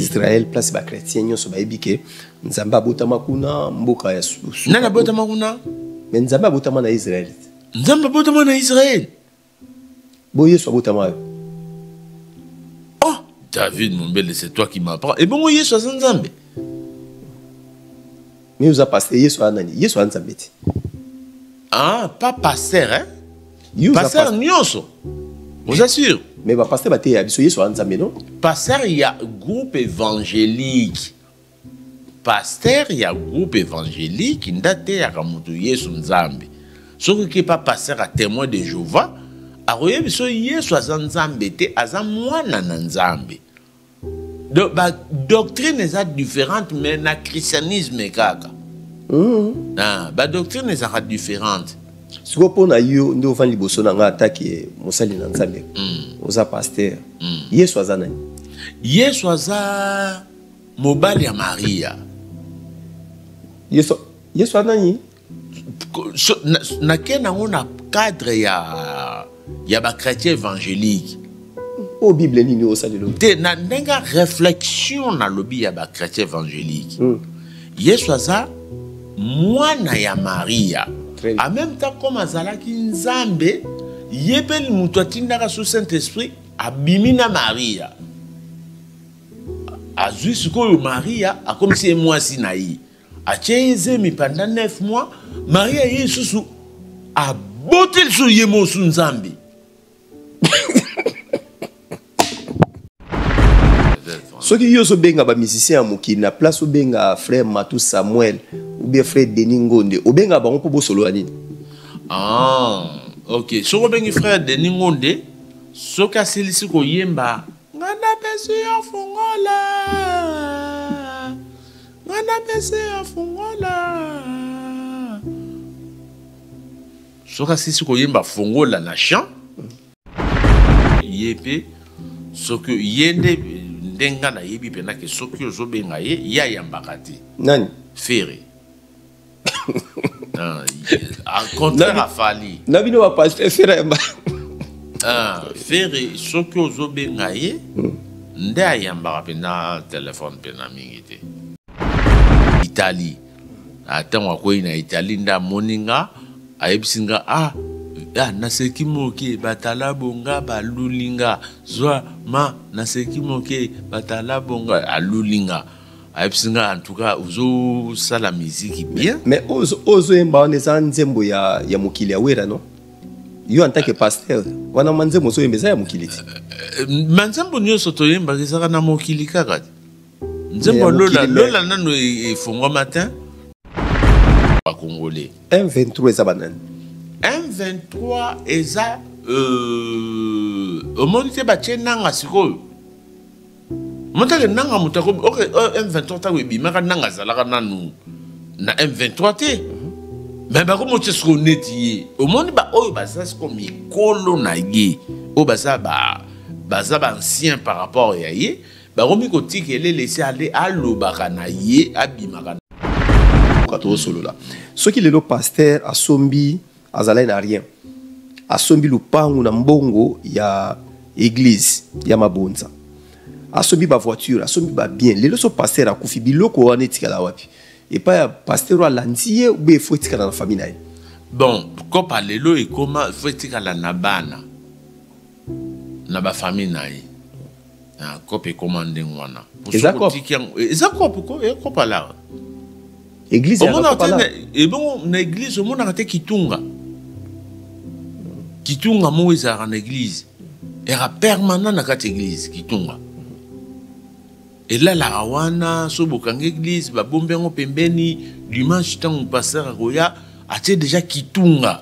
Israël place ba chrétien nyonso bayebi ke Nzambe abotama kuna mboka ya susu. Nani abotama kuna? Mais Nzambe abotama na Israël. Nzambe abotama na Israël. Bo Yesu abotama yo. Oh, David Mombele, c'est toi qui m'apprends. Et bon, Yesu aza Nzambe. Mais oza pasteur Yesu a nani? Yesu a Nzambe te. Ah, pas pasteur hein? Yo pasteur nyonso. Oza sûr? Mais ba pasteur bateya biso Yesu a Nzambe non? Pasteur ya groupe évangélique. Pasteur ya groupe évangélique ndateyaka moto Yesu Nzambe. Soki ke pa pasteur a témoin de Jéhovah, akoyebi biso Yesu aza Nzambe te, aza mwana na Nzambe. Do, ba doctrine eza différente mais na christianisme kaka mm. ah, ba doctrine ezaka différente sikoyo mpo na yo nde ofandi liboso na ngai atake mosali na nzambe mm. oza paster mm. yesu aza nani yesu aza mobali ya maria yesu, yesu anani nake nango na cadre ya ya bachrétien évangélique oyo oh, bible nini osalelo te na ndenge ya réflexion nalobi ya bachrétien évangélique mm. yesu aza mwana ya maria en même temps comme azalaki nzambe ye mpe moto atindaka so saint esprit abimi na maria azwi sikoyo maria akomisi ye mwasi na ye atie ye zemi pendant 9 mois maria ye lisusu aboti lisusu ye mosu nzambe soki yo ozobenga bamusicien ya mokili na place obenga frère matou samuel oubien frère denis ngonde obenga bango mpo bosolola nini ah, ok soki obengi frère denis ngonde soki asilisi koyemba nga napesi yo fungola Nga na pese afungola. Soki asisi koyemba fungola na chant ye mpe soki ye nde nde nga nayebi mpenza ke soki ozobenga ye ye ayambaka te nani fere Ah, ah, contraire afali na bino bapaster fera ya ah, fere soki ozobenga ye hmm. nde ayambaka mpenza telefone mpenza mingi te italie ntango akwei na italie nde amoni nga ayebisi nga ah ah, naseki moke batala bonga balulinga zwa ma naseki moke batala bonga alulinga ayebisi nga en tout cas ozosala miziki bien mais ozoyemba wana eza nzembo ya, ya mokili ya wera no yo en tant que pasteur wana manzembo ozoyemba eza ya mokili te euh, euh, manzembo nyonso toyembaka ezaka na mokili kaka te nzembo lola lola nano e, efongwa matin bakongolais m23 eza banani m23 eza euh, omoni te batye nanga sikoyo motake nanga moto akomi ok euh, m23 ntango ebimaka nanga azalaka nanu na m23 te me bakomi otye soko neti ye omoni baoyo baza siko mikolo na ye oyo baza ba baza baancien par rapport ya ye bakomi kotika elele esi alobaka na ye abimaka na tosolola soki lelo paster asombi azalaki na rien asombi lupangu na mbongo ya église ya mabonza asombi ba voiture asombi ba bien lelo so pasteur akufi biloko wana etikala wapi epai ya pasteur oyo alandi ye obe efo etikala na famille na ye bon kopa lelo ekoma efo etikala na bana na bafamille na ye Ah, cope ekoma ndenge wana eza cope eza cope ko e cope alara église omonaka te na ebongo na église omonaka te kitunga kitunga moko ezalaka na église era permanent na kati église kitunga elalaka wana so bokangi église babombi yango pembeni dimanche ntango pasteur akoya atie deja kitunga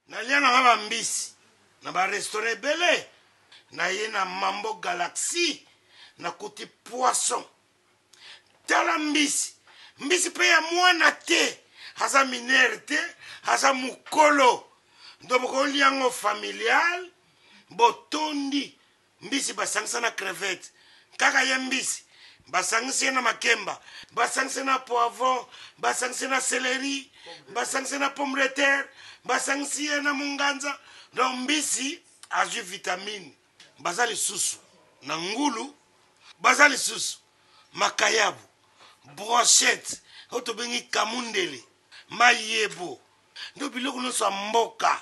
Nalia na nga ba mbisi na ba restaurant ebele naye na mambo galaxy nakuti poisson tala mbisi mbisi pe ya mwana te aza minere te aza mukolo ndobokolia ngo familial botondi Mbisi basangisa na crevette. Kaka ye mbisi basangisi ye na makemba. Basangisi ye na poivron, basangisi ye na celerie, basangisi ye na pomme de terre, basangisi ye na munganza. Donc mbisi azwi vitamine. Baza lisusu na ngulu, baza lisusu makayabu, brochette oyo tobengi kamundele, mayebo, donc biloko nionso ya mboka.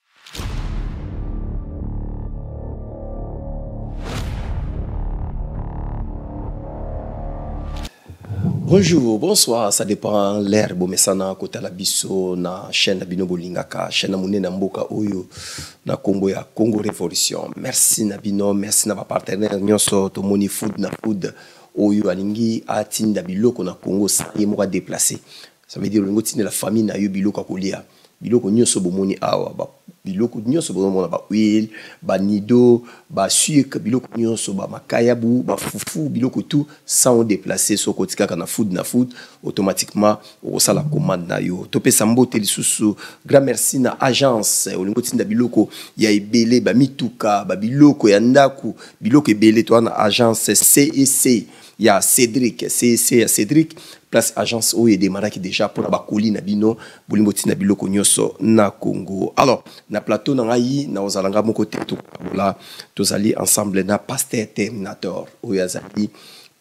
Bonjour, bonsoir, ça dépend l'ère bomesana kota la biso na chaîne na bino bolingaka, chaîne na monene mboka oyo na kombo ya Congo Révolution. Merci na bino, merci na ba partenaires nyonso to moni food na food oyo alingi atinda biloko na Congo sa ye moko déplacé. ça veut dire olingi otindela famille na yo biloko ya kolia biloko nyonso bomoni awa ba, biloko nyonso bozomona bahuile banido basucre biloko nyonso bamakayabu bafufu biloko tout sans odeplace soki oti kaka na food na food automatiquement okosala commande na yo topesa mbote lisusu grand merci na agence olingi otinda biloko ya ebele bamituka babiloko ya ndako biloko ebele toa na agence cec ya Cédric CEC ya Cédric place agence oyo edemaraki déjà mpo na bakoli na bino bolingi botinda biloko nyonso na Congo alors na plateau na ngai nakozala ngai moko te tokola tozali ensemble na pasteur terminator oyo azali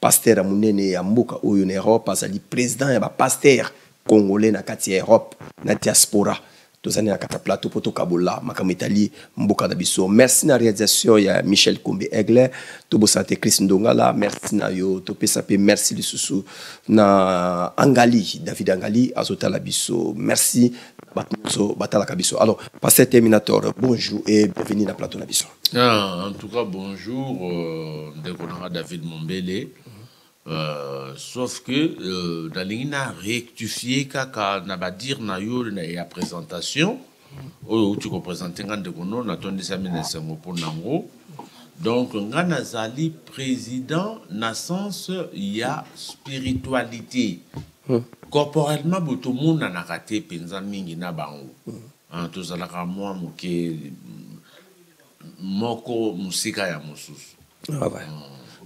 pasteur ya monene ya mboka oyo na Europe azali président ya ba pasteur congolais na kati ya Europe na diaspora toza nde na kata plateau mpo tokabola makambo etali mboka na biso merci na réalisation ya michel kombe aigle tobosana te chris ndongala merci na yo topesa mpe merci lisusu na angali david angali azotala biso merci bato nyonso batalaka biso alors pasteur terminator bonjour et bienvenue na plateau na biso ah, en tout cas bonjour euh, ndeko nanga david mombele Euh, sauf que euh, nalingi na rectifier kaka na badire na yo ya présentation oyo outi kopresente ngai ndeko no natondisami na esengo mpo na yango donc ngai nazali président na sens ya spiritualité hmm. corporellement boye tomonanaka te mpenza mingi na bango hmm. ah, tozalaka mwa moke moko mosika ya mosusu ah ouais.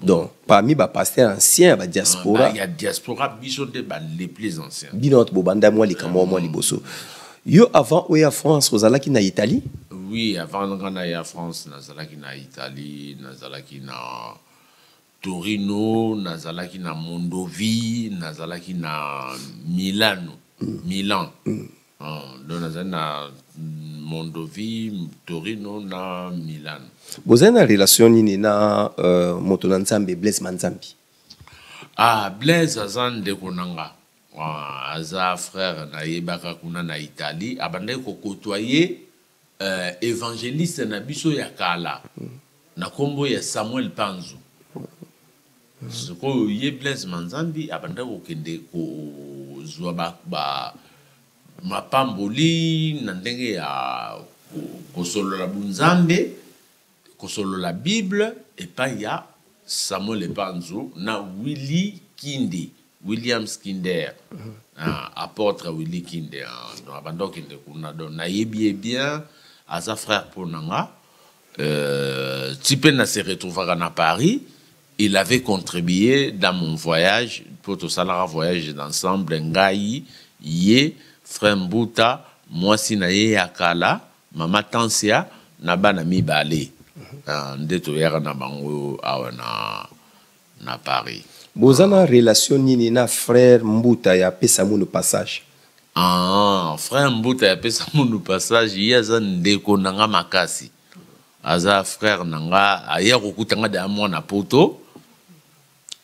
donc parmi bapasteur ancien ya badiaspora ya diaspora biso nde bale plus ancien bino bato bobanda mwa likambo mwa liboso yo avant oya france ozalaki na italie oui avant nga naya france nazalaki na italie nazalaki na torino nazalaki na mondovi nazalaki na milano mm. milan mm. donc nazali na mondovi torino na milano bozali na relation nini na uh, moto na nzambe blaise manzambi ah blaise aza ndeko na nga ah, aza frère nayebaka kuna na italie abandaki kokotoa ye Euh, evangeliste na biso ya kala na kombo ya Samuel Panzu. Sikoyo ye Blaise Manzambi abanda kokende kozwa ba, ba mapamboli na ndenge ya kosolola bunzambe Kosolola Bible epai ya Samuel Epanzu na Willy Kindi, Williams Kinder. Ah, apotre Willy Kinde, ah, donc abanda kokende kuna. Donc nayebi ye bien, aza frère mpo na nga. Euh, ti mpe na se retrouvaka na Paris, il avait contribué dans mon voyage, mpo tosalaka voyage d'ensemble, ngai, ye, frère Mbuta, mwasi na ye ya kala, Mama Tansia na bana mibale ah, nde toyaka na bango awa na, na Paris. Boza na relation nini na frère Mbuta ya pesa munu passage? Ah, frère Mbuta ya pesa munu passage, ye aza ndeko na nga makasi. Aza frère na nga, aya kokuta nga da mwana poto.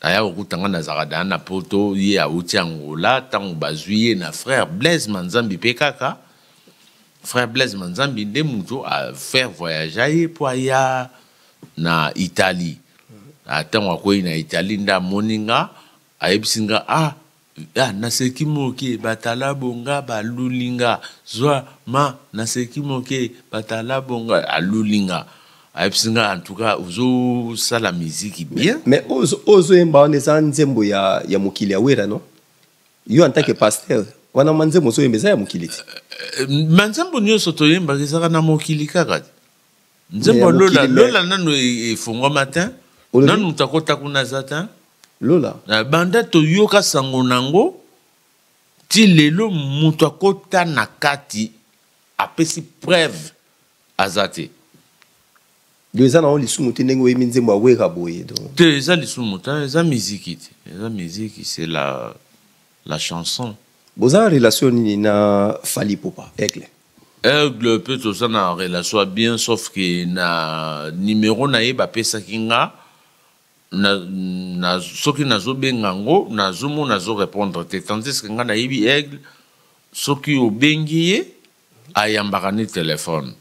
aya kokuta ngai nazalaka dana na poto ye awuti angola ntango bazwi ye na frère blaise manzambi mpe kaka frère blaise manzambi nde moto afaire voyagea ye mpo aya na italie ntango akwei na italie nde amoni nga ayebisi nga ah Ah naseki moke batalabo nga baluli nga zwa ma naseki moke batalabo nga aluli nga ayebisi nga en tout cas ozosala miziki bien mais ozo ozo yemba wana eza nzembo ya ya mokili ya wera non yo en tant que pasteur wana manzembo ozo yemba eza ya mokili ti manzembo nyonso toyembaka ezalaka na mokili kaka te nzembo ya lola lola nanu efongwama te nanu moto akota kuna aza te lola na banda toyoka sango na yango ti lelo moto akota na kati apesi preuve aza te yo eza nango lisumu te ndenge oyebi nzembo ya wera boye te eza lisumu te eza miziki te eza miziki c'est la la chanson boza na relation nini na fali popa aigle aigle mpe toza na relation ya bien sauf ke na numero na ye bapesaki nga na, na, soki nazobenga yango nazomona azo répondre te tandiske nga nayebi aigle soki obengi ye Ayambaka nde telephone.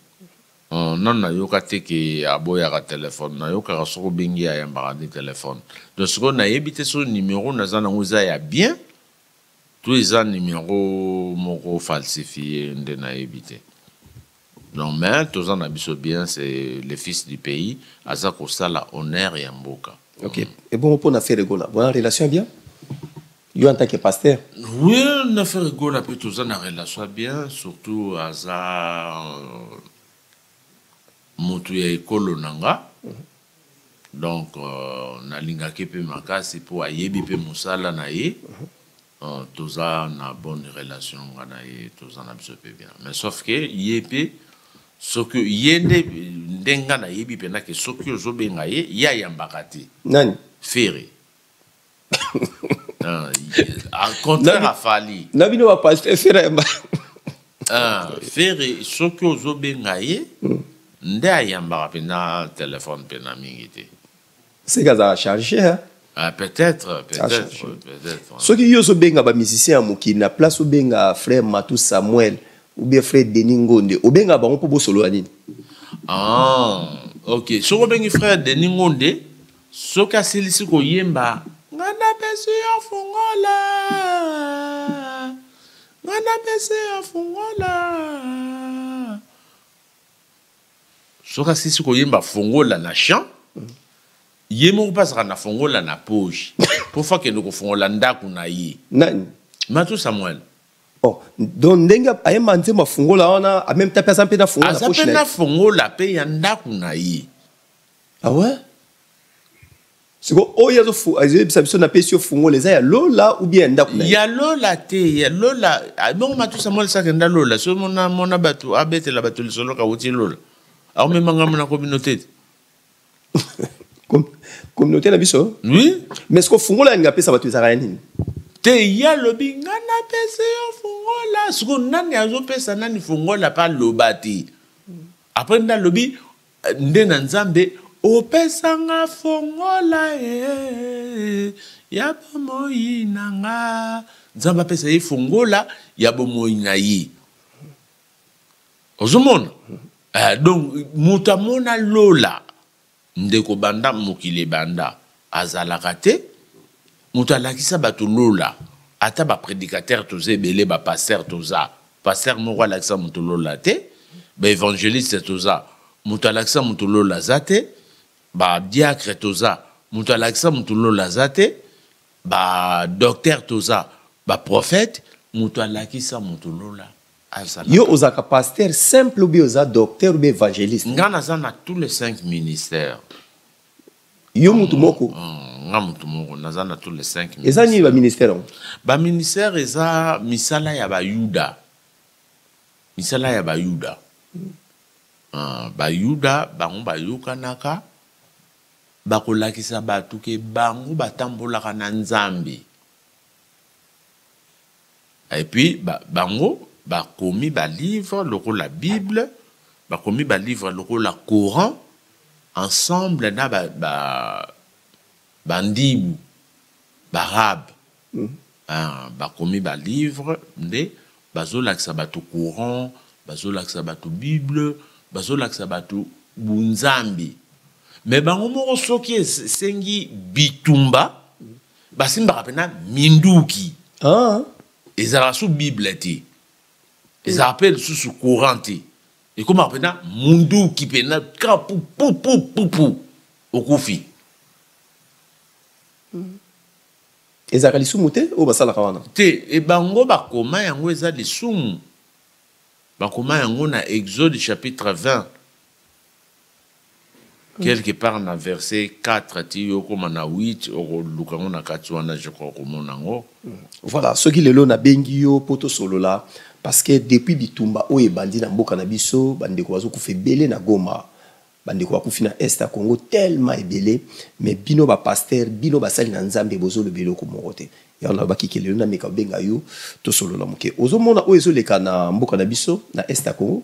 Hum nanu nayoka te que aboyaka telephone. Nayokaka soki obengi ye ayambaka nde telephone. Donc sikoyo nayebi te soki numero naza nango eza ya bien to eza numero moko falsifie nde nayebi te. Donc mais toza na biso bien c'est le fils du pays aza kosala honneur ya mboka. Ok. Ebongo pona Ferre Gola boza na relation ya bien? yo en tant que pasteur oui na affaire egola mpe toza na relation ya bien surtout aza euh, moto ya ekolo na nga mhm. donc euh, nalingaki mpe makasi mpo ayebi mpe mosala na ye mhm. euh, toza na bonne relation nga na ye toza na biso mpe bien mais sauf que ye mpe soki ye nde nde nga nayebi mpenza ke soki ozobenga ye ye ayambaka te nani fere Ah, ah, contraire à Fali. Na bino ba pasteur Ferre. Ah, Ferre soki ozo benga ye hmm. nde ayambaka mpena téléphone mpena mingi te. Seka za charger hein. Ah, peut-être, peut-être, peut-être. Soki yo ozo benga ba musicien ya mokili na place obenga frère Matou Samuel ou bien frère Denis Ngonde, obenga bango mpo bosolola nini? Ah, ok. Soki obengi frère Denis Ngonde, Soki asilisi koyemba nga napesi yo fungola, nga napesi yo fungola. Soki asilisi koyemba fungola na chant, ye moko mpe azalaka na fongola na poche mpo fa akende kofongola ndako na ye nani matu samuel oh, donc ndenge ayemba nzembo afungola wana ameme ta mpe aza mpe na fongola aza mpe na fongola mpe ya ndako na ye Ah ouais? siko oyo azoyebisa biso napesi yo fungola eza ya lola ou bien ya ndako ya lola te ya lola ah, bongo matusa molisaka enda lola so mona mona bato abetela bato lisolo kauti lola akomema ngambo na communauté te communauté na biso oui mais siko fungola yalinga apesa bato ezalaka ya nini te ye alobi ngai napesi yo fungola siko nani azopesa nani fungola pa loba te apres nde alobi Nde na Nzambe opesa nga fongola eh, ya bomoyi na nga. Nzambe apesa ye fongola ya bomoyi na ye. Ozomona? Eh, donc moto amona lola ndeko banda mokili ebanda Azalaka te mutu alakisa batu lola ata ba predicateur toza ebele ba pasteur toza pasteur moko alakisa mutu lola te ba evangeliste toza mutu alakisa mutu lola aza te ba diacre toza mutu alakisa mutu lola aza te ba docteur toza ba prophète mutu alakisa mutu lola azalaka yo ozalaka pasteur simple obi oza docteur obi evangeliste nga naza na tous les cinq ministères yo mutu moko mm, nga mutu moko naza na tous les cinq eza nini baministère yango baministère eza misala ya bayuda misala ya bayuda mm. uh, bayuda bango bayokanaka bakolakisa bato ke bango batambolaka na nzambe Et puis ba, bango bakomi ba livre lokola Bible, bakomi ba livre lokola Coran ensemble na ba, ba bandibu barabe mm. ah, bakomi ba livre nde bazolakisa bato Coran, bazolakisa bato Bible, bazolakisa bato bunzambi me bango moko soki esengi bitumba basimbaka mpena minduki ah. ezalaka su bible te ezalaka mpe lisusu courant te ekomaka mpena munduki mpena ka pupupupupu okufi mm. ezalaka lisumu te oyo basalaka wana te e bango bakoma yango eza lisumu bakoma yango na exode chapitre 20 quelque part na verset 4 ti okoma na 8 okoluka yango na kati wana je crois okomona yango mm. voilà soki lelo nabengi yo mpo tosolola parce que depuis bitumba oyo ebandi na mboka na biso bandeko bazokufa ebele na goma bandeko bakufi na est ya congo tellement ebele mais bino bapaster bino basali na nzambe bozoloba eloko moko te yango nalobaki ke lelo nameka obenga yo tosolola moke ozomona oyo ezoleka na mboka na biso na est ya congo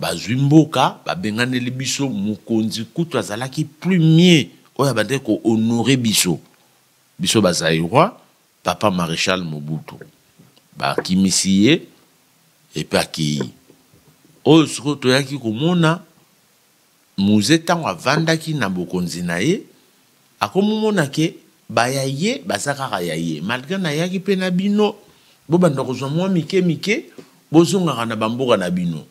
bazwi mboka babenganeli biso mokonzi kutu azalaki premier oyo abandaki ko honore biso biso ba zaïrois papa maréchal mobutu bakimisi ye epe akeyi oyo sikoyo toyaki komona Muze ntango avandaki na bokonzi na ye, akomomona ke ba ya ye baza kaka ya ye, malgre nayaki mpe na bino, bobanda kozwa mwa mike mike, bozongaka na ba mboka na bino.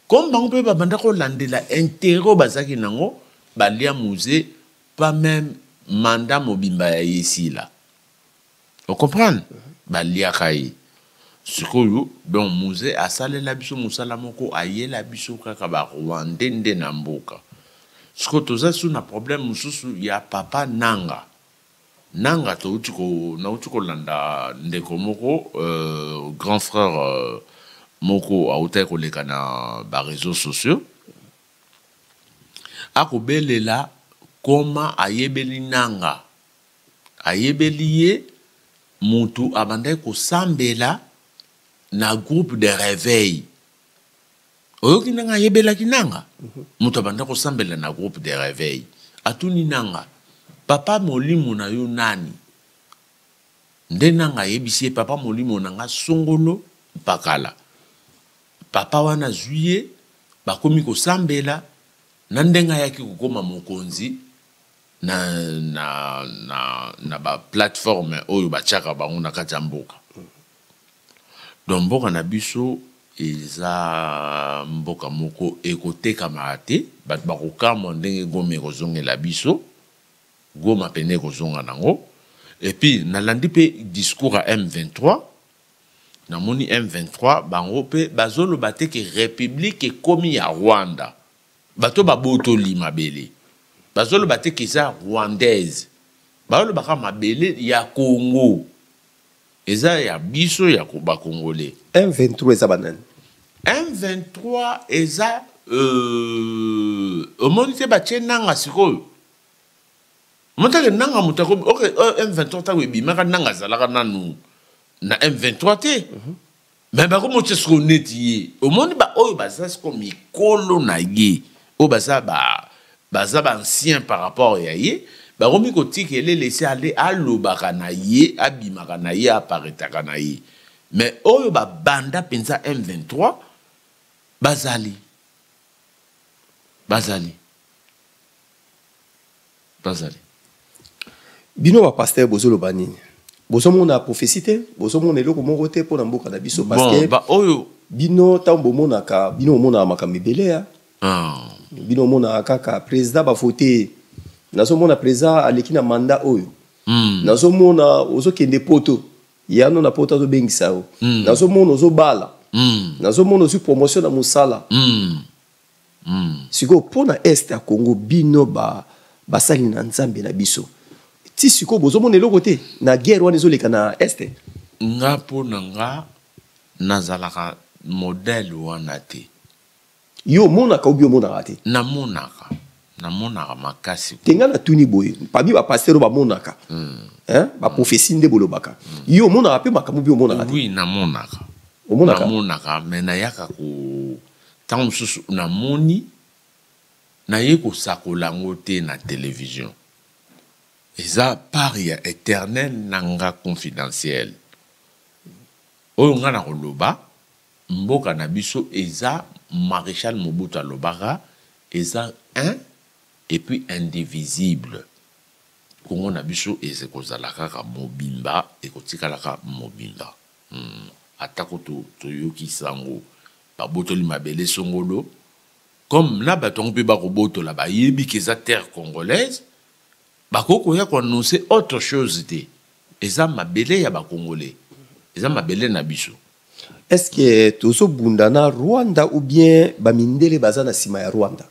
Comme bango mpe babanda kolandela interet oyo bazalaki na yango, balia Muze pas meme mandat mobimba ya ye esila. ocomprendre baliaka ye sikoyo donc muze asalela biso mosala moko ayela biso kaka barwande nde na mboka sikoyo toza su na problème mosusu ya papa nanga nanga touti nauti kolanda ndeko moko euh, grand frère euh, moko autaki koleka na bareseau sociaux akobelela koma ayebeli nanga Ayebeli ye mutu abandaki kosambela na groupe de reveil. Oyoki ndenge ayebelaki Nanga? Mutu abandaki kosambela na groupe de reveil. Atuni Nanga, papa molimo na yo nani? Nde Nanga ayebisi ye, papa molimo na nga Songolo Mpakala. Papa wana azui ye, bakomi kosambela, na ndenge ayaki kokoma mokonzi. na, na, na, na baplateforme oyo batyaka bango na kati ya mboka donc mboka na biso eza mboka moko ekotekamaka te bato bakokamwa ndenge goma ekozongela biso goma pene ekozonga nango epuis nalandi mpe discours ya m23 namoni m23 bango mpe bazoloba te ke republike ekomi ya rwanda Bato babotoli mabele bazoloba te que eza rwandaise, bazoloba kaka mabele ya Congo eza ya biso ya ba congolais. M23 eza ba nani? M23 eza euh, omoni te batie nanga sikoyo motake nanga moto akomi ok euh, M23 ntango ebimaka nanga azalaka nanu na M23 te mm -hmm. me bakomotisa siko neti ye omoni baoyo baza siko mikolo na ye oyo baza ba baza baancien par rapport ya ye bakomi kotika elele esi ale alobaka na ye abimaka na ye aparetaka na ye me oyo babanda mpenza m23 bazali bazali bazali bino ba pasteur bozoloba nini bozomona prophesie te bozomona eloko moko te mpo na mboka na biso parce que baoyo bino ntango bomonaka bino omonaka makambo ebele ya ah. bino omonaka kaka président bavote nazomona président aleki na mandat oyo hmm. nazomona ozokende poto yano na poto azobengisa yo hmm. nazomona ozobala hmm. nazomona ozwi promotion na mosala Mm. sikoyo mpo na est ya congo bino ba, basali na nzambe na biso ti sikoyo bozomona eloko te na guerre wana ezoleka na est nga mpo na nga nazalaka modele wana te yo omonaka obi omonaka te namonaka namonaka makasi te nga natuni boye pami bapastere bamonaka mm. baprofesi nde bolobaka mm. yo omonaka mpe makambo bi omonaka te oui namonaka omonaka me nayaka ko Ntango mosusu namoni, naye kosakola yango te na television. Eza part ya eternel na nga confidentiel. Oyo nga nakoloba, mboka na biso eza Marechal Mobutu alobaka, eza un et puis indivisible. Congo na biso ekozala kaka mobimba, ekotikalaka mobimba. Hum atako to toyoki sango babotoli mabele songolo comme na bato yango mpe bakobotola bayebi ke eza terre congolaise bakoki koya koannonce autre chose te eza mabele ya bacongolais eza mabele na biso est ce que tozobunda na rwanda ou bien bamindele baza na nsima ya rwanda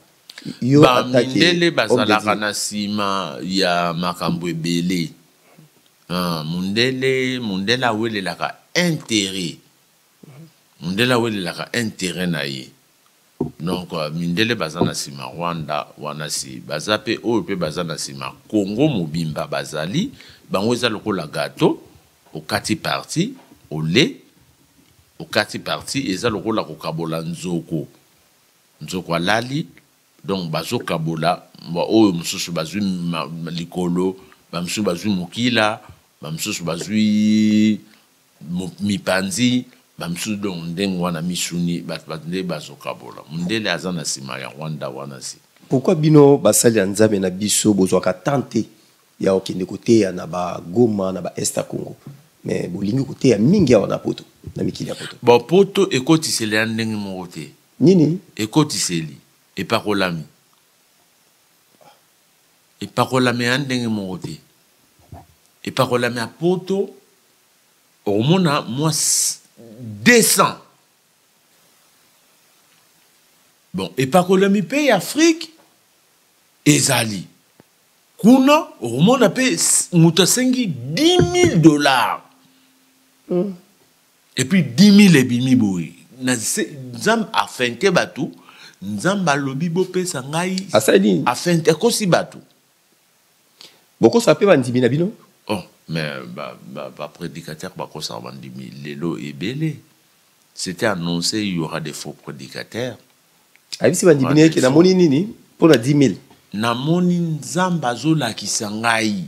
bamindele bazalaka na nsima ya makambo ebele Ah, mundele mundele awelelaka interet mundele awelelaka interet na ye donc euh, mindele baza na nsima rwanda wana si baza mpe oyo mpe baza na nsima congo mobimba bazali bango eza lokola gato okati parti ole okati parti eza lokola kokabola nzoko nzoko alali Donc bazo kabola ba oyo mususu bazui likolo, ba mususu bazui mukila, ba mususu bazui mipanzi, ba mususu donc ndenge wana misuni batu ba nde bazo kabola. Mundele aza na sima ya Rwanda wana si. Pourquoi bino basali ya Nzambe na biso bozwaka temps te ya kokende koteya na ba Goma na ba Est ya Congo mais bolingi koteya mingi awa na poto na mikili ya poto? Bon poto ekotisela ya ndenge moko te. Nini? Ekotiseli epakolami. Epakolami ya ndenge moko te. Epakolami ya poto, okomona mwa 200. Bon, epakolami mpe ya Afrique ezali. Kuna, okomona mpe moto asengi 10 000 dollars. Mm. et puis 10000 ebimi boye nzambe afente bato nzambe alobi bopesa ngai asali nini afente akosi bato bokosa mpe bandimi na bino oh mais baprédicateur ba, ba bakosaka bandimi lelo ebele c'était annoncé il y aura des faux prédicateurs ayebisi bandimi na yeke namoni nini mpo na 10 000 namoni nzambe azolakisa ngai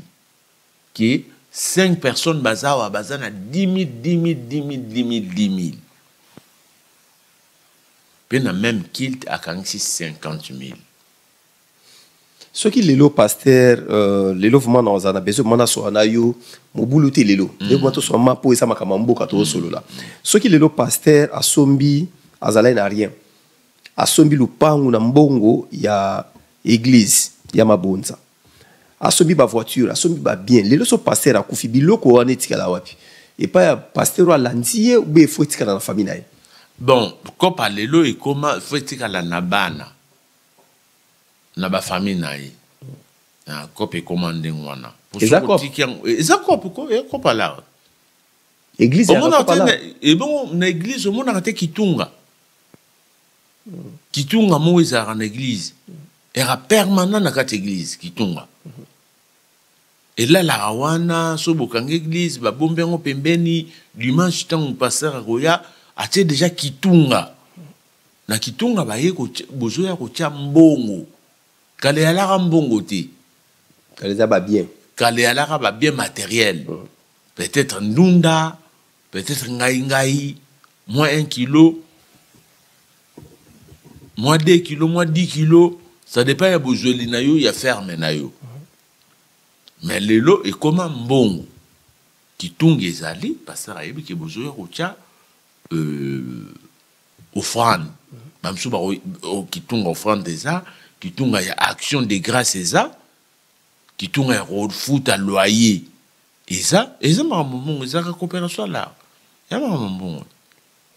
que 5 personnes bazawa baza na 10000 10000 10000 10000 10000 pe na même kilt akangisi 50000 soki lelo pasteur euh, lelo vraiment na ozana besoin vraiment nasola na yo mobulu te lelo mm. lelo vraiment tosola ma mpo eza makambo ya mboka tozosolola mm. soki lelo pasteur asombi azalaki na rien asombi lupangu na mbongo ya église ya mabonza asombi bavoiture asombi babien lelo so paster akufi biloko wana etikala wapi epai ya paster oyo alandi ye ube efo etikala na famille na ye bon kopa lelo ekoma efo etikala na bana na bafamille na ye na kopa ekoma ndenge wana eza kope kopa lar ebongo na eglise omonaka te kitunga kitunga moko ezalaka na eglize eka permanent na kati eglize kitunga elalaka wana so bokanga eglize babombi yango pembeni dimanche ntango paster akoya atie deja kitunga na kitunga baye bozoya kotya mbongo kala eyalaka mbongo te kala eza babien kala eyalaka babien materiel mm. peut-être ndunda peut-être ngai ngai moins 1 kilo moins 2 kilo moins 10 kilo ça dépend ya bozweli na yo ya ferme na yo mais lelo ekoma mbongo kitungi ezali pasteur ayebi ke bozoya kotya euh, offrande bamosusu bako oh, kitunga offrande eza kitunga ya action de grâce eza kitunga ya kofuta loyer eza eza makambo mbongo ezalaka coopération ya lar ya makambo mbongo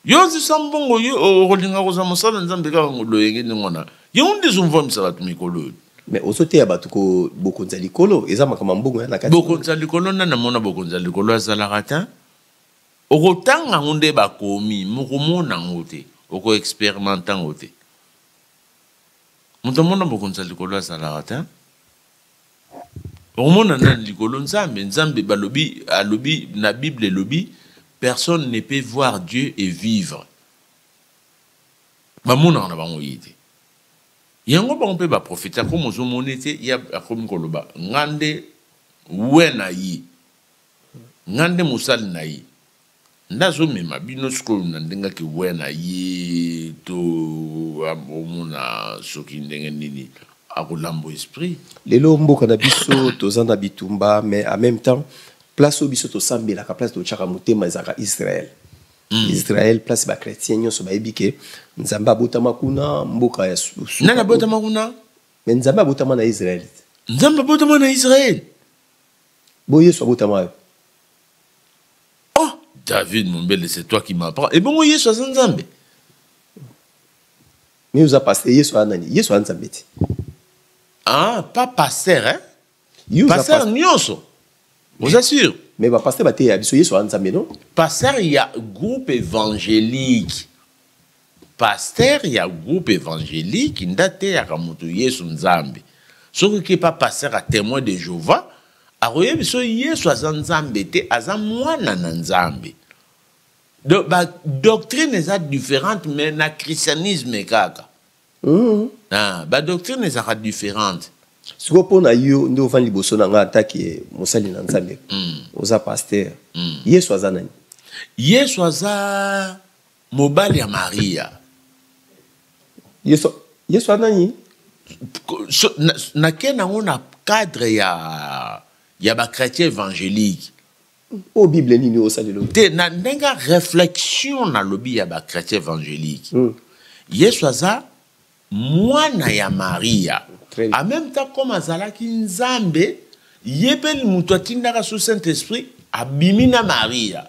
yo ozisa mbongo yo okolinga kozwa mosala nzambe kaka ngoloyenge ndenge wana yango nde ezomvwamisa bato mikolo oyo mais ozoteya bato ko bokonzi ya likolo eza makambo ya mbongo ya na kati bokonzi ya likolo nani amona bokonzi ya likolo azalaka te okotanga yango nde bakomi mokomona yango te okoexperimente yango te moto amona bokonzi ya likolo azalaka te okomona nani likolo nzambe nzambe balobi alobi na bible elobi personne ne peut voir dieu et vivre bamonaka na bango ye te yango bango mpe baprofete akomi ozomona ete ye akomi koloba nga nde we na ye nga nde mosali na ye Nazo mema bino sikoyo na ndenge ke wena ye to omona soki ndenge nini akolambo esprit. Lelo mboka na biso toza na bitumba mais en même temps place oyo biso tosambelaka place totyaka motema ezalaka Israël. Mm. Israël place ba chrétiens nyonso bayebi ke Nzambe abotama kuna mboka ya susu. Nani abotama kuna? Mais Nzambe abotama na Israël. Nzambe abotama na Israël. Bo Yesu abotama yo. oh david mombele c'est toi qui m'apprend ebongo yesu aza nzambe mais oza paster yesu aza nani yesu aza nzambe te ah pas paster hein paster nyonso oza sûr mais bapaster bateya biso yesu aza nzambe no paster ya groupe évangélique Pasteur ya groupe evangelique nde ateyaka moto Yesu Nzambe. Soki oke epa pasteur ya Temoin de Jehovah, akoyebisa biso Yesu aza Nzambe te, aza mwana na Nzambe. Donc ba doctrine eza différente mais na christianisme kaka. Mmh. Ah, ba doctrine ezaka différente. sikoyo mpo na yo nde ofandi liboso na ngai atake mosali na nzambe mm. oza paster mm. yesu aza nani yesu aza mobali ya maria yesu yesu anani so, nake na yango na cadre ya ya bachrétien évangélique oyo bible nini osalelo te na ndenge ya réflexion nalobi ya bachrétien évangélique mm. yesu aza mwana ya maria en même temps comme azalaki nzambe ye mpe moto atindaka so saint esprit abimi na maria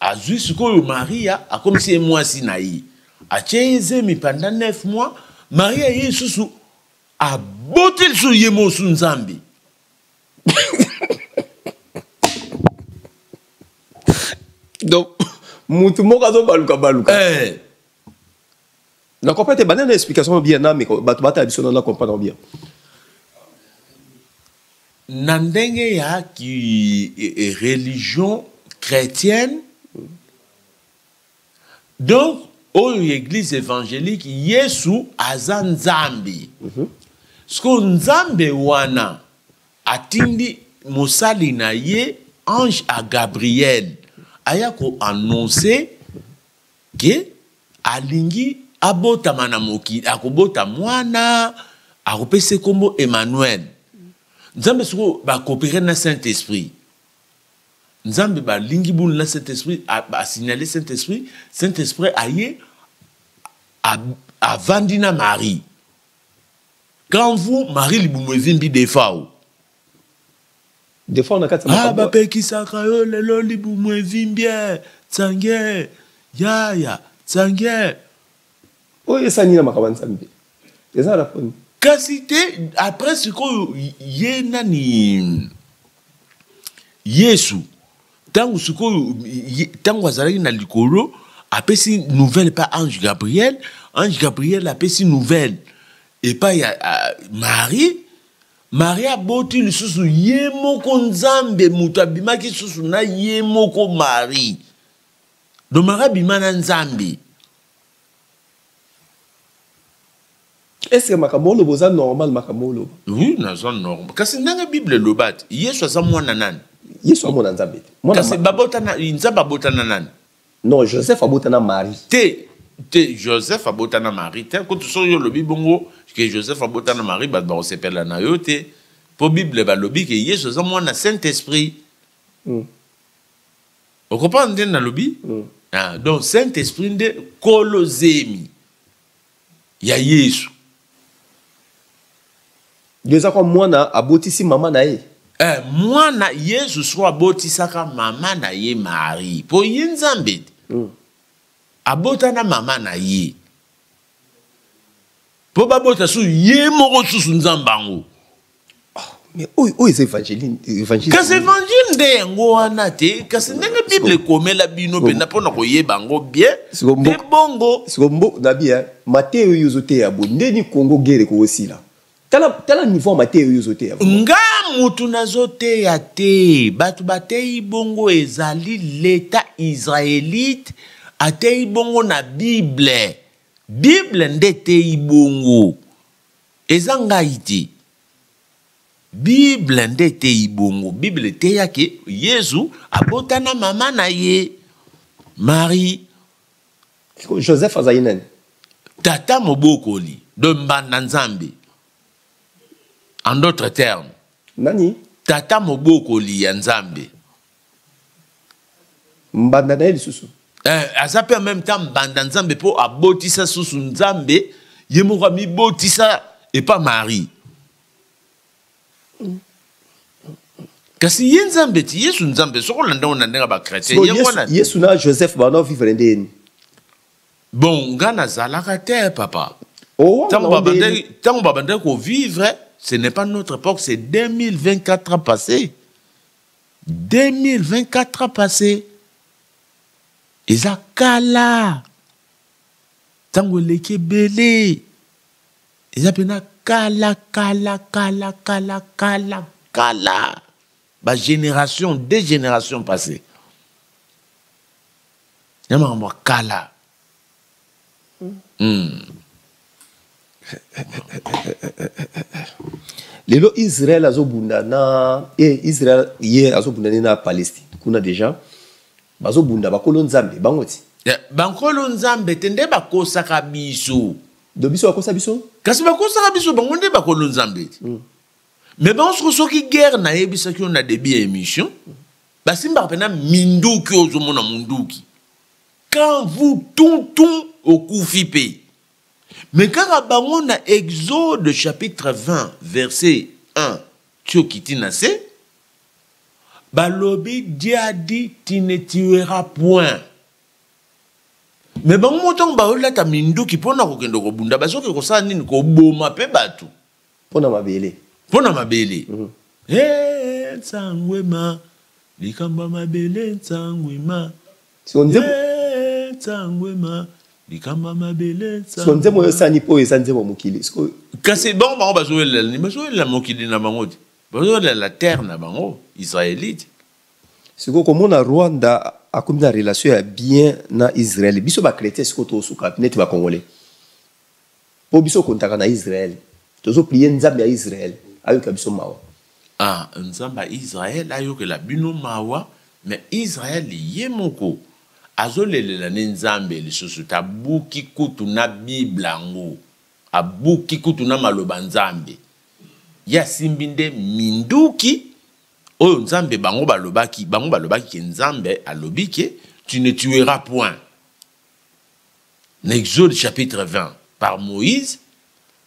azwi sikoyo maria akomisi ye mwasi na ye atye ye zemi panda 9 mois maria ye lisusu aboti lisusu ye mosu nzambe donc mutu moko azobaluka baluka eh. Na comprends te bana na explication bien na mais bato batala biso na comprendre bien. Na ndenge ya ki e, e, religion chrétienne donc oyo église évangélique Yesu aza Nzambe. Mm -hmm. Siko Nzambe wana atindi mosali na ye ange à Gabriel aya ko annoncer ke alingi abotama na mokili akobota mwana akopesa nkombo emmanuel nzambe sikoyo bakopere na saint esprit nzambe balingi bulu na saint esprit asignale saint esprit saint esprit aye avandi na marie quand vous marie libumu evimbi defao ah, bapekisaka yo lelo libumu evimbie tsange yaya tsange oyo esani na makambo ya nzambe eza na poni kasi te après sikoyo ye nani yesu ntango sikoyo ntango azalaki na likolo apesi nouvelle epai ange gabriel ange gabriel apesi nouvelle epai ya marie Maria aboti lisusu ye moko Nzambe moto abimaki lisusu na ye moko Marie. Donc Maria abima na Nzambe. Est-ce que makambo oloba oza normal makambo oloba? Oui, naza normal. Kasi ndenge Bible eloba ete Yesu aza mwana nani? Yesu amona Nzambe te. Kasi babotana Nzambe abotana nani? Non, Joseph abota na Marie. Te, te Joseph abota na Marie te. Kutu soki olobi bongo que Joseph abota na Marie, bato bakosepela na yo te. Po Bible balobi que Yesu aza mwana Saint-Esprit. Mm. Okompanda nde nalobi? Mm. Ah, donc Saint-Esprit nde kolo zemi. ya yesu eza kwa mwana abotisi mama na ye eh, mwana yesu soko abotisaka mama na ye marie mpo ye nzambe te mm. abota na mama na ye mpo babota susu ye moko susu nzambe yango oyo oh, oh, eza évangile kasi évangile nde yango wana te kasi ndenge bible ekomela bino mpenza mpo na koyeba yango bien nde bongo sikombo na bia mateyo oyo ozoteya bo ndeni kongo gere koosila tala tala niveau ya mateyo oyo ozoteya nga motu nazoteya te bato bateyi bongo ezali leta israelite ateyi bongo na bible bible nde eteyi bongo Eza ngai te. Bible nde eteyi bongo. Bible eteya ke Yezu abota na mama na ye Marie. Sikoyo Joseph azali nani? Tata mobokoli de mbanda Nzambe. En d'autres termes. Nani? Tata mobokoli ya Nzambe. mbanda na ye lisusu eh, aza mpe en même temps mbanda nzambe mpo abotisa susu nzambe ye moko amibotisa epa marie kasi ye nzambe ti yesu nzambe soki olanda ngo na ndenge ya bakretien ye wana yesu na joseph banao vivre nde yeni bon nga nazalaka te papa oh, ntango babandaki kovivre ce n'est pas notre époque c'est 2024 ans passé 2024 ans passe eza kala ntango eleki ebele eza mpena kala kala kala kala kala kala bagénération de génération passé ya makambo ya kala Hmm. lelo israel azobunda na eh, israel ye azobunda nde na palestine kuna deja bazobunda bakolo nzambe bango ti eh, bankolo nzambe te nde bakosaka biso do biso bakosa biso kasi bakosaka biso bango nde bakolo nzambe ti mm. me bango soko soki guerre nayebisaki yo na debut ya émission basimbaka mpena minduki ozomona monduki quand vous tuntun okufi mpe me kaka bango na exode chapitre 20 verset 1 ti okiti na se balobi dia di ti ne tuera point me bango moko ntango baolata minduki mpo na kokende kobunda bazoki kosala nini koboma mpe bato mpo na mabele mpo na mabele mm. hey, nsango ema likambo ya mabele nsango ema so, nzembo... hey, nsango ema likambo ya mabele so nzembo oyo esani mpo eza nzembo mokili so... kasi bango bango bazowelela nini bazowelela mokili na bango te bazowelela terre na bango israelite sikoyo komona rwanda akomi na relation ya bien na israel biso bakretien sikoyo tosuka neti bakongole Po biso kontaka na Israël. Tozo prier Nzambe ya Israël. Ayoka biso mawa. Ah, Nzambe ya Israël ayokela bino mawa. Mais Israël ye moko azo lelela ne Nzambe lisusu te. Abuki kutu na Bible ango. Abuki kutu na maloba Nzambe. Ye asimbi nde minduki oyo Nzambe bango balobaki. Bango balobaki ke Nzambe alobi ke tu ne tueras point. na exode chapitre 20 par moïse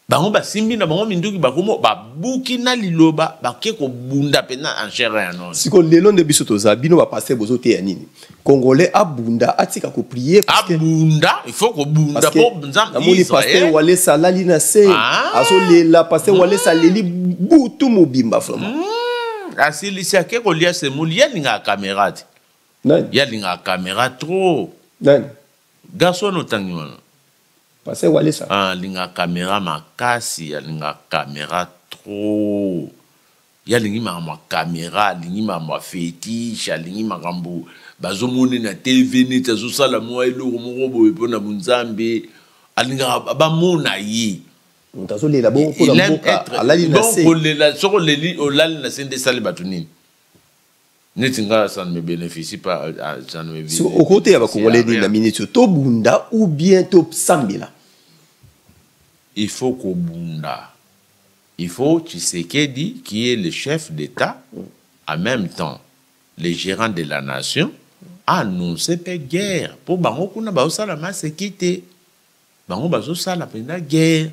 bango basimbi na bango minduki bakomo babuki na liloba bake kobunda mpenza en chair ya nonso siko lelo nde biso toza bino bapaster bozoteya nini congolais abunda atika koprie abunda ifo kobunda mpo nzambeamoni paster walesa alali na se ah. azolela paster mm. walesa aleli butu mobimba vraiment mm. asilisi ake kolia semouli ye alingaka kamera te Nani? Ya linga camera trop. Nani? Garçon no tangi wana. Pasteur Walesa. Ah, linga camera makasi, ya linga camera trop. Ya lingi makambo camera, lingi makambo fetiche, alingi makambo bazomoni na TV neti azosala mwa eloko moko boye mpo na bonzambe. Alingaka bamona ye. Moto azolela bongo mpo na mboka, alali na se. Donc, kolela, soki oleli, olali na se nde esali bato nini? neti nga ça ne me bénéficie pas euh, ah, ça ne me so okoteya bakongolais nini na minute oyo tobunda ou bien tosambela il faut kobunda il faut tshisekedi qui est le chef d'état en même temps le gérant de la nation annonce mpe guerre mpo bango kuna bazosala maseki te bango bazosala mpenza guerre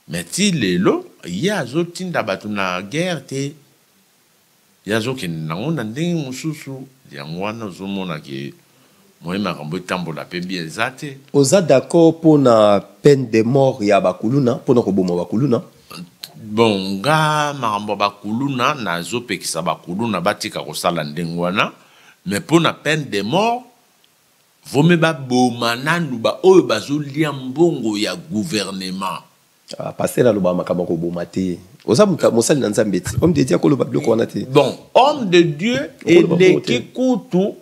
mais ti lelo ye azotinda bato na guerre te Ye azo kende nango na ndenge mususu yango wana ozo mona ke moyen makambo etambola pe bien eza te. Oza d'accord pona peine de mort ya ba kuluna pona koboma ba kuluna? Bon nga makambo ya ba kuluna nazo pekisa ba kuluna batika kosala ndenge wana mais pona peine de mort vaut mieux baboma nanu ba oyo bazo lia mbongo ya gouvernement Ah, pasteur aloba makambo ya koboma te oza moto mosali na nzambe ti homme de dieu akoloba biloko wana te bon homme de dieu eleki kutu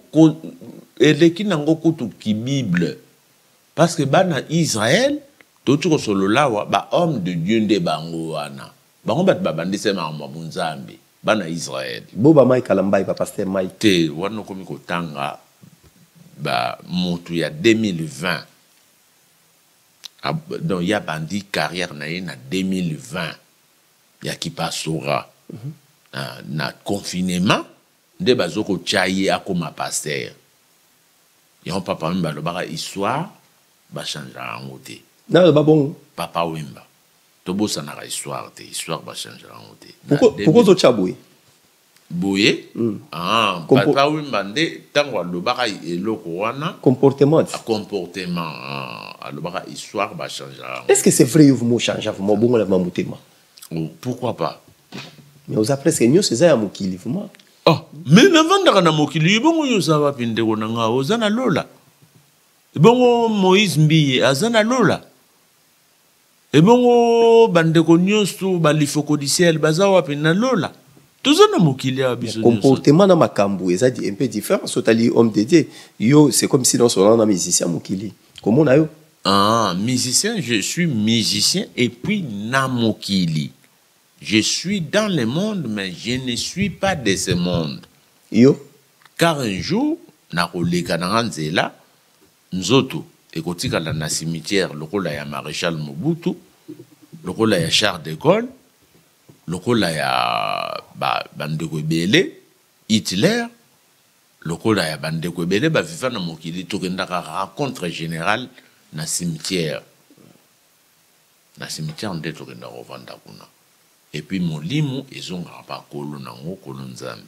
eleki nango kutu kibible parce que bana israel touti kosolola awa bahomme de dieu nde bango wana bango bato babandisa makambo ya bonzambe bana israel boba mike alambai bapaster mike te wana okomi kotanga bamotu ya 2020 Ah, donc ya bandi carrière na ye na 2020 ya kipasora mm -hmm. ah, na confinement nde bazokotya ye akoma pasteur yango papa wemba alobaka histoire bachangaka yango te naloba bongo papa wemba tobosanaka histoire te histoire bachangaka yango te pourkoi ozotya boye boye mm. ah, Compo papa wimba nde ntango alobaka eloko wana comportement ah, comportement ah, alobaka histoire bachangea est ce que c'est vrai yo vumo changea vumo obongola ma motema oh, pourquoi pas mais oza presque nyonso eza ya mokili vumo oh, mais navandaka na mokili ebongo yo oza wapi ndeko na nga oza na lola ebongo moïse mbiye aza na lola Ebongo bandeko nyonso ba lifocodiciel baza wapi na lola? toza na mokili awa biso comportement na makambo eza un peu différent so otali homme de dieu yo c'est comme si naosonana na musicien mokili komona yo ah, musicien je suis musicien et puis na mokili je suis dans le monde mais je ne suis pas de ce monde yo car un jour nakoleka na nga nzela Nzoto ekotikala na cimetière lokola ya Marechal Mobutu, lokola ya Charles de Gaulle, lokola ya ba bandeko ebele Hitler, lokola ya bandeko ebele ba viva na mokili tokendaka rencontre generale na cimetière. Na cimetière nde tokendaka kovanda kuna et puis molimo ezongaka pa kolo nango kolo nzambe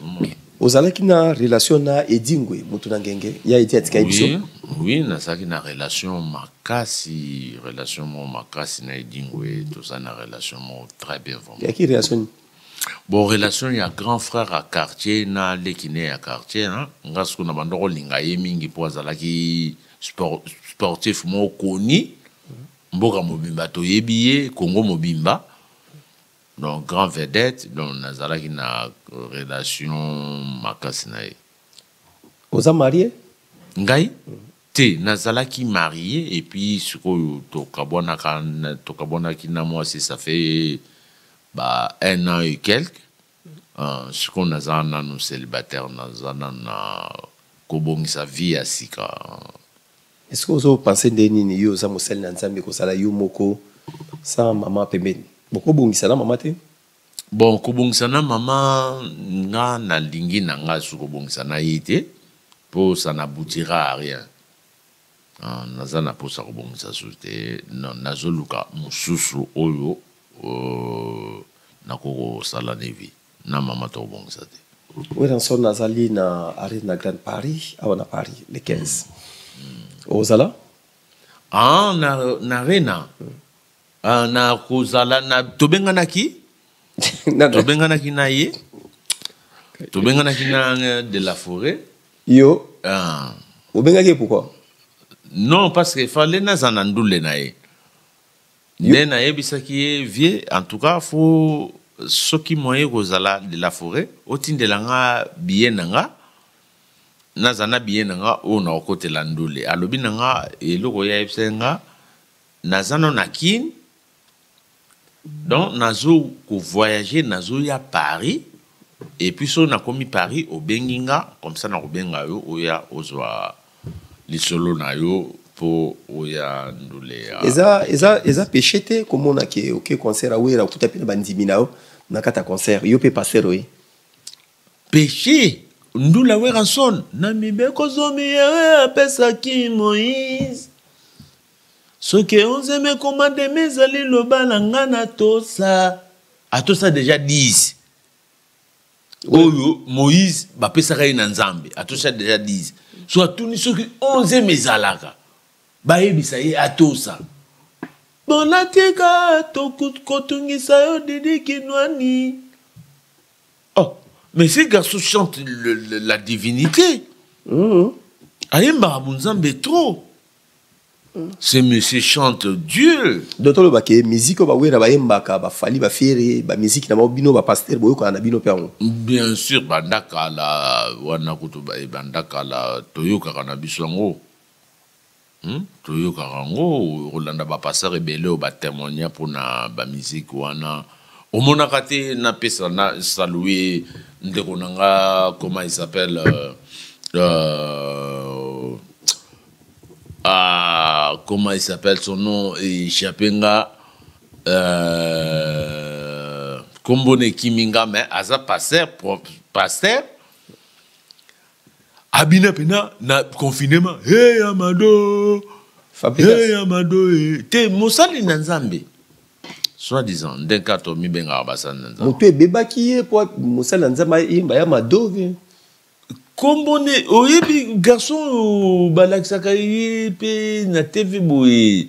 ozomona. Ozalaki na relation na Edingwe mutu na ngenge ya eti atika biso? Oui, oui nazalaki na relation makasi, relation moko makasi na Edingwe, tozali na relation moko très bien vraiment. Ya ki relation nini? Bon relation ya grand frère ya quartier na leki ne ya quartier hein. Nga siko na bandaki kolinga ye mingi po azalaki sport, sportif moko koni. mboka mobimba toyebi ye congo mobimba donc grand vedette donc nazalaki na relation makasi na ye oza marie ngai te nazalaki marie et puis sikoyo tokabwanaka tokabwanaki na mwasi ça fait ba un an et quelque Uh, sikoyo naza nanu celibataire naza nanu na kobongisa vie ya sika eske ozo pense nde nini yo oza mosali na nzambe kozala yo moko sans mama pembeni bokobongisa na mama te bon kobongisa na mama nga nalingi na nga su kobongisa na ye te mpo ça n'aboutira à rien Ah, naza na posa kobongisa susu te nazoluka mosusu oyo euh, nakoki kosala nevi na mama to kobongisa te weranson nazali na arena grande paris awa na paris le 15 mm. mm. ozala ah, na, na arena mm. Ah, na kozala na tobenganaki tobenganaki na ye tobenganaki na euh, de la forêt yo ah. obengaki pourquoi non parce que fallait naza na ndule na ye nde nayebisaki ye vie en tout cas fo soki moye kozala de la forêt otindela nga biye na nga naza na biye na nga oyo nakokotela ndule alobi na nga eloko ye ayebisaki nga Naza no na kin donc nazo ko voyager nazo ya Paris et puis so nakomi Paris obengi nga comme ça nakobenga yo oya ozwa lisolo na yo po oya ndule ya eza eza eza péché te komona ke oke concert ya wera okuta mpe na bandimi na yo na kati ya concert yo mpe pasteur oye péché ndula weranson na mibeko zomi ye apesaki moïse Ce que onze mes commandements ezali loba na nga natosa atosa deja 10 oyo moïse bapesaka ye na nzambe atosa deja 10 so atuni soki 11 ezalaka bayebisa ye atosa bona tika kotungisa yo didi kinwani oh mais ce garçon chante le, le, la divinité mm -hmm. ayembaka bonzambe trop ce monsieur chante dieu donc toloba ke musique oyo bawera bayembaka bafali bafiere bamiziki na bango bino bapastere boyokana na bino mpe yango bien sûr banda kala wana kutu banda kala toyokaka na biso yango hmm? toyokaka yango kolanda bapastere ebele oyo batemoigna mpona bamiziki wana omonaka te napesa na salue ndeko na nga comment il s'appelle euh, euh, Ah, comment il s'appelle son nom échappé nga euh, kombo na ekimi nga mais aza pasteur pasteur abina mpena na confinement hey, amado hey, amado eh. te mosali na nzambe soit disant nde nka tomibengaka basali na nzambe moto ebebaki ye mpo mosali na nzambe ayemba ya mado kombo nde oyebi garçon oyo balakisaka ye mpe na tv boye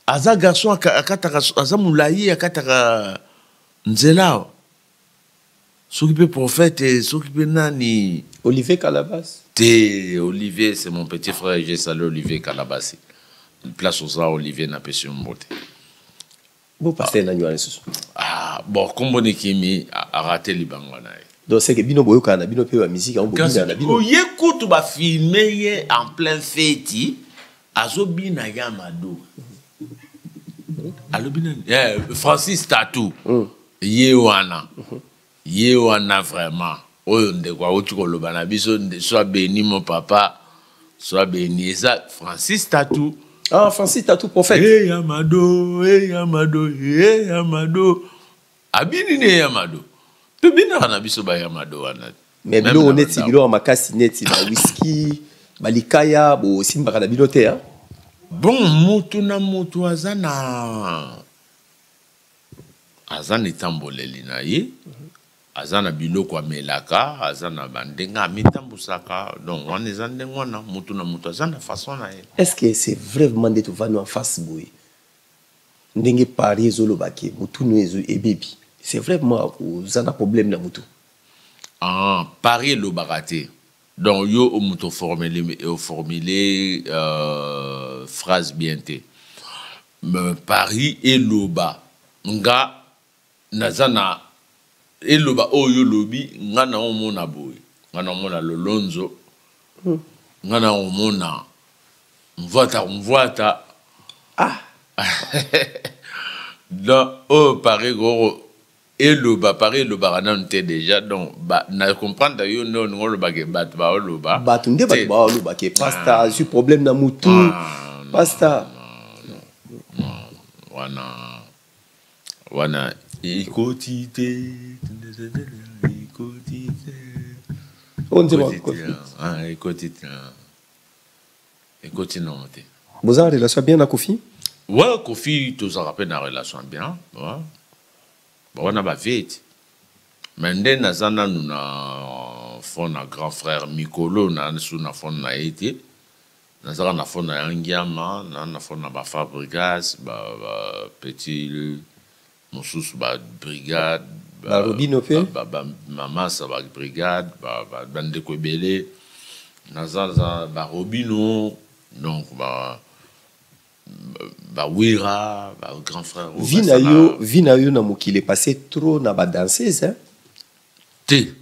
aza garçon akataka aza molai akataka nzela awa soki mpe prophète soki mpe nani olivier calabas te olivier c'est mon petit frère je sali olivier calabasi place oza olivier napesi yo mbote Bo pasteur nani wana lisusu? Ah, bon kombo ni kimi a rater libanga na ye. Donc c'est que bino boyokana na bino pe ba musique yango bobina na bino. Oye kutu ba filmer ye en plein feti azobina ya mado. Alobi nani? Eh, Francis Tatou. Mm. Ye wana. Mm -hmm. Ye wana vraiment oyo ndeko awuti koloba na biso nde soit beni mon papa soit beni eza Francis Tatu ah Francis Tatu prophète hey Amado hey Amado hey Amado abini ne Amado to binaka na biso ba Amado wana mais biloko neti biloko makasi neti ba whisky ba likaya bo simbaka na bino te hein bon mutu na mutu aza na aza na etamboleli na ye aza na biloko amelaka aza na bandenge amitambusaka donc wana eza ndenge wana motu na motu aza na façon na ye est ce que c'est vraiment nde tovandi en face boye ndenge paris ezoloba ke motunu ezo ebebi c'est vraiment oza na problème na motu ah, paris elobaka te donc yo moto oformule euh, phrase bien te Me Paris eloba nga naza na eloba oyo yo olobi nga na omona boye nga na omona lolonzo nga na omona mvuata mvuata ah donc oyo Paris koko eloba paris elobaka nanu te deja donc na comprendre yo nde olingi oloba ke bato baoloba bato nde bato baoloba ke pasta ah. azwi problème na motu ah, pasta wana wana ekoti te ekoti te ekoti te ekoti nango te boza na relation bien na kofi wa kofi tozalaka mpe na relation bien ba wana ba vie ti mais nde naza nanu na fond na grand frère mikolo na su na fond na ye te nazaka na fond na ya ngiama na na fond na ba fabrigas ba, ba petit mosusu ba brigade ba robino pe ba, ba, ba mamasa ba brigade ba, ba, ba ndeko ebele naza za ba robino donc ba ba wera ba grand frère vie na yo vie na yo na mokili passé trop na ba danseuse hein? te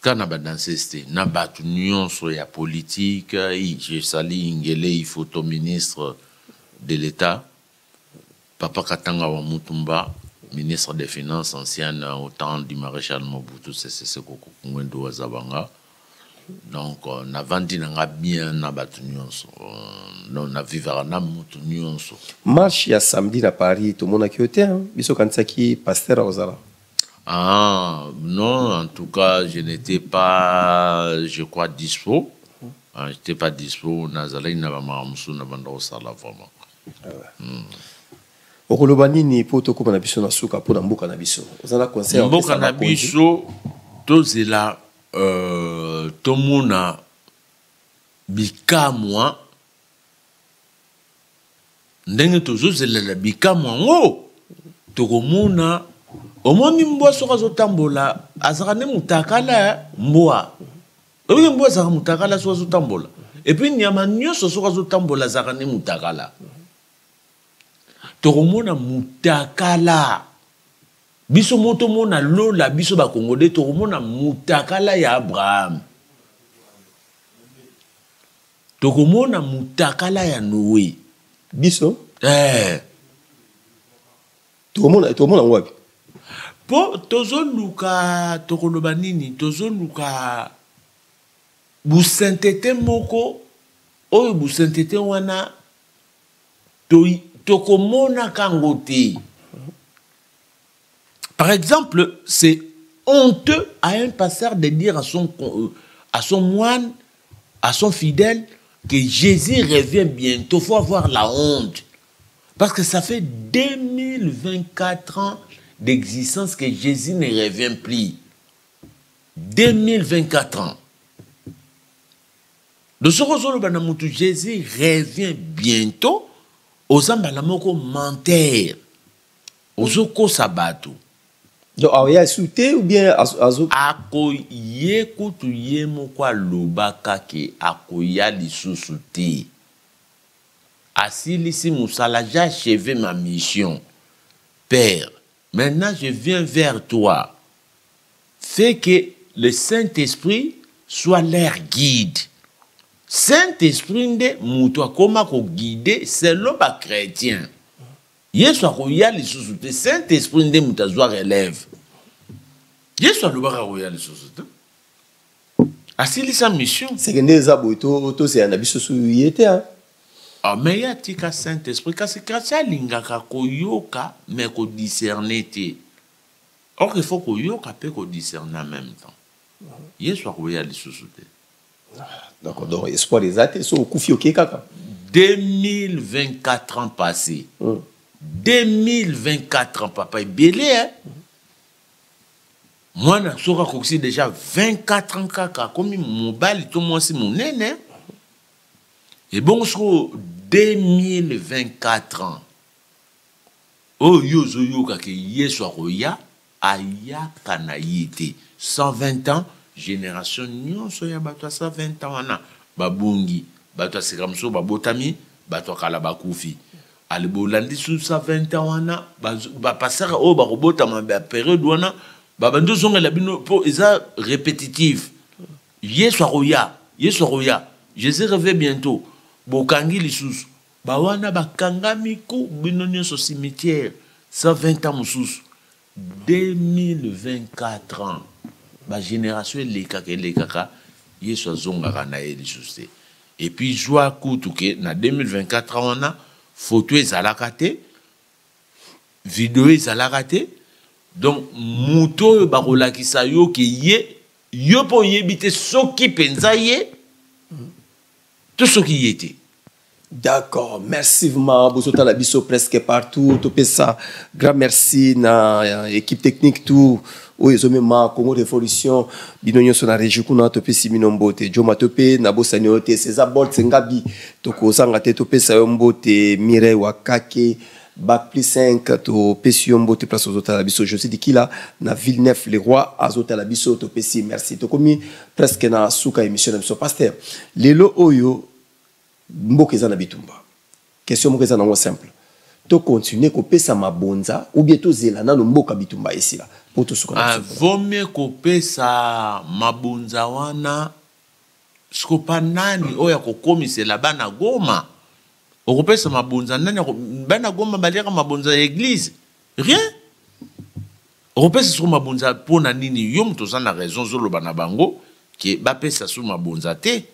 kaka na ba danseuse te na bato nyonso ya politike jesali ingele ifoto ministre de l'état Papa Katanga wa Mutumba, ministre des Finances ancien au temps du maréchal Mobutu Sese Seko Kokungwendu wa Zabanga. Donc, euh, na vandi na nga bien na batu nyonso. Euh, non, na vivaka na mutu nyonso. Marche ya samedi na Paris, tout le monde a quitté, hein? Biso kanisaki pasteur Ozala. Ah, non, en tout cas, je n'étais pas, je crois, dispo. Ah, je n'étais pas dispo. Nazalaki na ba mamusu na banda osala vraiment. okoloba nini mpo tokóma na biso na suka mpo na mboka na biso oza na conseil mboka na biso tozela euh, tomona bikamwa ndenge tozozelela bikamwa yango tokomona omoni mbwa soki azotambola azalaka nde motakala mbwa oyoki mpo azalaka mutakala soki azotambola epuis nyama nyonso soki azotambola azalaka nde mutakala tokomona mutakala biso mo tomona lola biso bakongole tokomona mutakala ya abraham tokomona mutakala ya noe biso eh. tokomona tokomona yango wapi mpo tozoluka tokoloba nini tozoluka busentete moko oyo busentete wana tokomonaka to yango te par exemple c'est honteux à un pasteur de dire à son, euh, à son moine à son fidèle que Jésus revient bientôt. faut avoir la honte. Parce que ça fait 2024 ans d'existence que Jésus ne revient plus. 2024 ans. Le Sorozoloba Namutu, Jésus revient bientôt aux Ambalamoko menteur. Aux Oko Sabato. Donc, alors, il y a sauté ou bien azo Ako ye kutu ye moko aloba kake akoya lisusu te. Asilisi musala j'ai acheve ma mission père maintenant je viens vers toi fait que le saint esprit soit leur guide saint esprit nde mutu akoma ko guide selon ba chretien yesu akoya lisusu te saint esprit nde mutu azwa relève yesu alobaka akoya lisusu te asilisa mission seke nde eza boye tosela na biso su ye te ah, mais ye atika saint esprit kasi kasi alingaka koyoka mais kodiscerne te or il faut koyoka mpe kodiscerne en même temps yesu akoya lisusu te donc donc espoir eza te soki okufi okei kaka 2024 ans passé mm. 2024 ans papa ebele hein? mm. mwana soki akokisi deja 24 ans kaka akomi mobali to mwasi monene ebongo sikoyo 2024 ans oyo yo ozoyoka ke yesu akoya ayaka na ye te 120 ans génération nyonso ya bato ya 120 ans wana babungi bato ya sika mosusu babotami bato ya kala bakufi ale bolandi su sa 20 ans wana bapasaka ba oyo bakobotama ba periode wana babandi ozongela bino mpo eza répétitive yesu akoya yesu akoya jésus reve bientôt bokangi lisusu bawana bakangami ku bino nyonso cimetière 120 ans mosusu 2024 ans ba generation elekaka elekaka yesu azongaka na ye lisusu te epuis zwa kutu ke na 2024 ans wana foto ezalaka te video ezalaka te donc moto oyo bakolakisa yo ke ye yo mpe oyebi te soki mpenza ye to soki ye te D'accord, merci vraiment. Bozota la biso presque partout. Topé ça. Grand merci na euh, équipe technique tout. oyo ezomema congo révolution bino nyonso na régi kuna topesi bino mbote joma to mpe nabosani oyo te césar bolt ngabi tokozanga te topesa yo mbote mireille wakake bac plus 5 topesi yo mbote place ozotala biso josé dikila na ville neuf le roi azotala biso topesi merci tokomi presque na suka émission na biso paster lelo oyo mboka eza na bitumba question moko eza nango simple to continuer kopesa mabonza ou bien tozela nano mboka bitumba esila po tosuka ah, vomie kopesa mabonza wana sikopa nani oyo ya kokomisela bana goma okopesa mabonza nani bana goma baliaka mabonza ya eglize rien okopesa siko mabonza mpo na nini yo moto oza na raison ozoloba na bango ke bapesa so mabonza te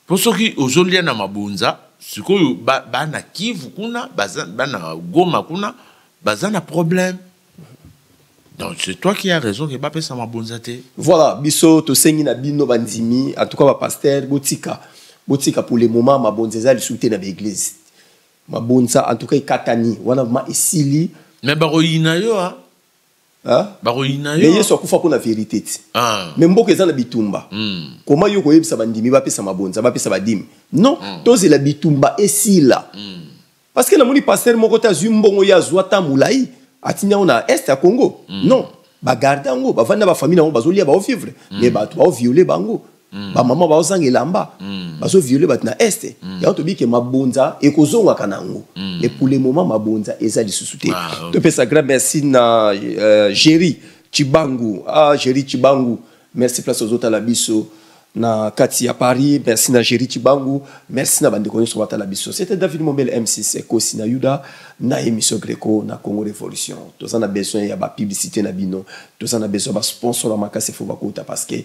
Po soki ozolia na mabonza sikoyo bana kivu kuna baza bana goma kuna baza na problème donc c'est toi qui a raison ke bapesa mabonza te voilà biso tosengi na bino bandimi en tout cas bapaster botika botika pour le moment mabonza eza lisusu te na baeglise mabonza en tout cas ekatani wana vraimen esili me bakoyina yo a Hein? bakoyina yo mais yesu akufa mpo na verité ti ah. mais mboka eza na bitumba mm. koma yo koyebisa bandimi bapesa mabonza bapesa badimi non mm. tozela bitumba esila mm. parce que namoni pasteur moko te azwi mbongo ye azwa ta molai atindi yango na est ya congo mm. non bagarde yango bavandi na bafamille na yango bazolia baovivre mm. mais bato baoviole bango mm. ba maman ba zanga elamba mm. bazo violer bat na est mm. yango tobi ke mabonza ekozonga kana ngo mm. mais pour le moment mabonza eza lisusu te ah, okay. to pesa grand merci na euh, Jerry Chibangu ah Jerry Chibangu merci place aux autres la biso na kati ya paris merci na géri cibangu merci na bandeko nyonso batala biso c'était david mombele m6 ekosi na yuda na émission greco na congo révolution toza na besoin ya bapublicité na bino toza na besoin basponsor ya makasi fo bakota parce que